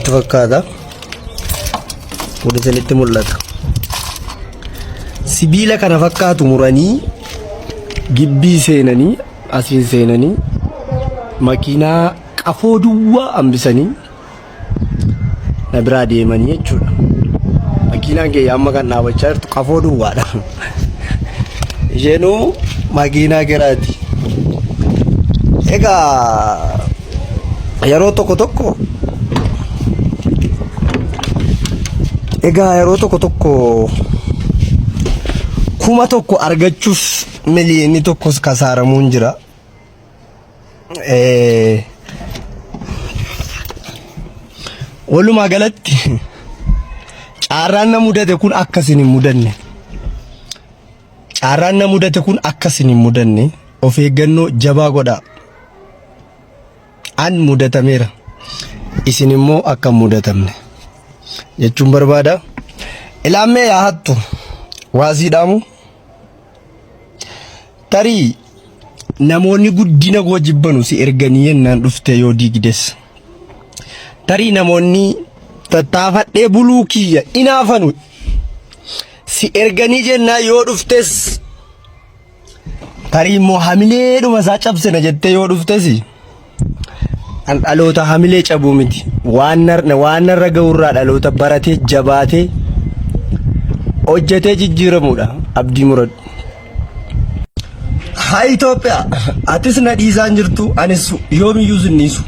Itti fakkaata. Kun isinitti mul'ata. Sibiila kana fakkaatu muranii gibbii seenanii asiin seenanii makiinaa qafoo duwwaa hambisanii na biraa deemanii jechuudha. Makiinaan kee amma kan dhaabachaa jirtu qafoo duwwaadha. Isheenuu makiinaa giraati. Egaa yeroo tokko tokko egaa yeroo tokko tokko kuma tokko argachuuf miliyoonni tokkos kasaaramuun jira. Eh, Walumaa galatti carraan na mudate kun akkasin hin mudanne. Carraan na mudate kun akkasin hin mudanne. Of eeggannoo jabaa godhaa. an mudatameera isin immoo akka hin mudatamne jechuun barbaada ilaammee yaa hattu waasii dhaamu tarii namoonni guddina koo jibbanu si erganii yennaan dhufte yoo diigdes tarii namoonni tattaafadhee buluu kiyya inaafanu si erganii jennaa yoo dhuftes Tarii immoo hamilee dhuma isaa cabsina jettee yoo dhuftesi an dhaloota hamilee cabuu miti. Waan nar- waan narra ga'urraa dhaloota baratee jabaatee hojjetee jijjiiramuudha abdii muradhu. Haa Itoophiyaa atis na dhiisaa hin jirtu anis yoomiyyuu sin dhiisu.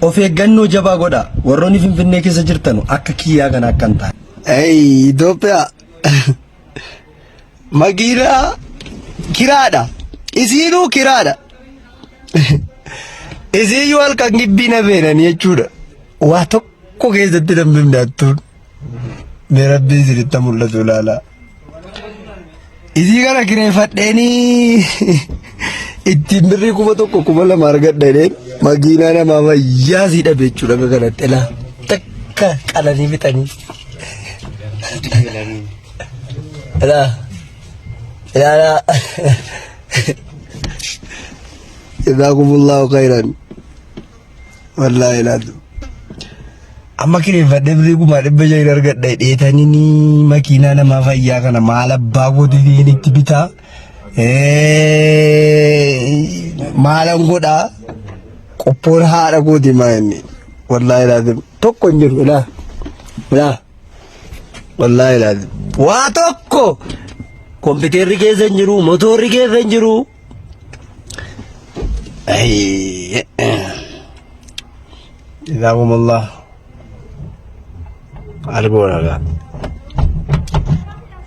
Of eeggannoo jabaa godha warroonni Finfinnee keessa jirtanu akka kiyyaa kana akka hin taane. Itoophiyaa Makiinaa kiraadha. Isiinuu kiraadha. Isiiyyuu halkan gibbii na feenan jechuudha. Waa tokko keessatti nan bifne attuun. Mee rabbii isinitti mul'atu ilaalaa. Isii kana kireeffadheenii ittiin birrii kuma tokko kuma lama argadha jedheen makiinaa namaa wayyaa sii dhabe jechuudha akka kanatti ilaa takka qalanii fixanii. Ala. Ala ala. Jazakumullahu khairan. Wallahi laatu. Amma kireeffadhe birrii kuma dhibba shan argadhe dheetanii ni makiinaa namaa fayyaa kana maal abbaa gootitiin itti bitaa. Maalan godhaa qophoon haadha gooti maa inni. Wallahi laatu tokko hin jiru ilaa. Ilaa. Wallaahi ilaali. Waa tokko kompiitarri keessa hin jiru, motoorri keessa hin jiru. Ayy. Jazakumullah. Argoon argaa.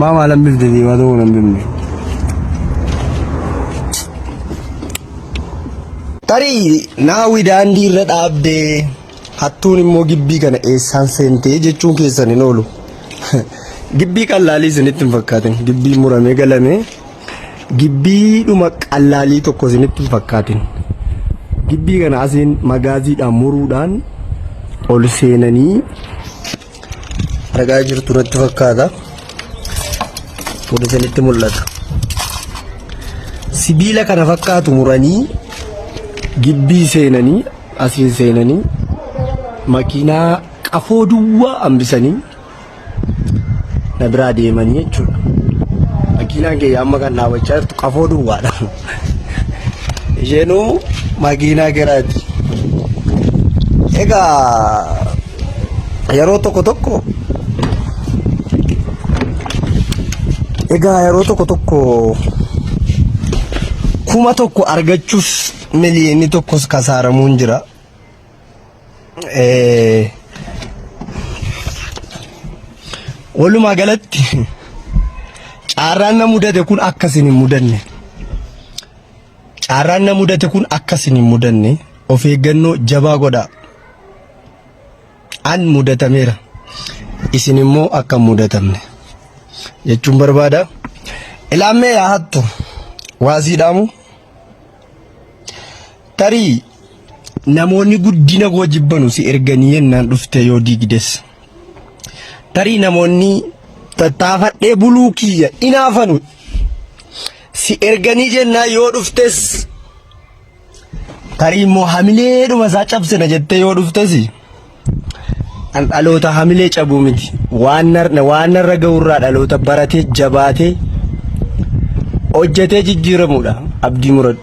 Maa maalan bifte diimaa ta'uu nan bifne. Tarii naawi daandii irra dhaabdee hattuun immoo gibbii kana eessaan seentee jechuun keessan hin oolu. Gibbii qallaalii isinitti hin fakkaatin. Gibbii muramee galamee gibbii dhuma qallaalii tokko isinitti hin fakkaatin. Gibbii kana asiin magaaziidhaan muruudhaan ol seenanii argaa jirtu natti fakkaata kun isinitti mul'ata sibiila kana fakkaatu muranii gibbii seenanii asiin seenanii makiinaa qafoo duwwaa hambisanii na biraa deemanii jechuudha makiinaan kiyya amma kan dhaabachaa jirtu qafoo duwwaadha isheenuu makiinaa garaati egaa yeroo tokko tokko egaa yeroo tokko tokko kuma tokko argachuuf miliyoonni tokkos kasaaramuun jira. Eh, Walumaa galatti carraan na mudate kun akkasin hin mudanne. Caarraan na mudate kun akka isin hin mudanne of eeggannoo jabaa godhaa. An mudatameera. Isin immoo akka hin mudatamne jechuun barbaada. Ilaammee yaa hattu waasii dhaamu. Tarii namoonni guddina koo jibbanu si erganii yennaan dhuftee yoo diigdes. Tarii namoonni tattaafadhee buluu kiyya inaafanu. Si erganii jennaa yoo dhuftes tarii immoo hamilee dhuma isaa cabsina jettee yoo dhuftes an dhaloota hamilee cabuu miti waan nar- waan narra ga'urraa dhaloota baratee jabaatee hojjetee jijjiiramuudha abdii muradhu.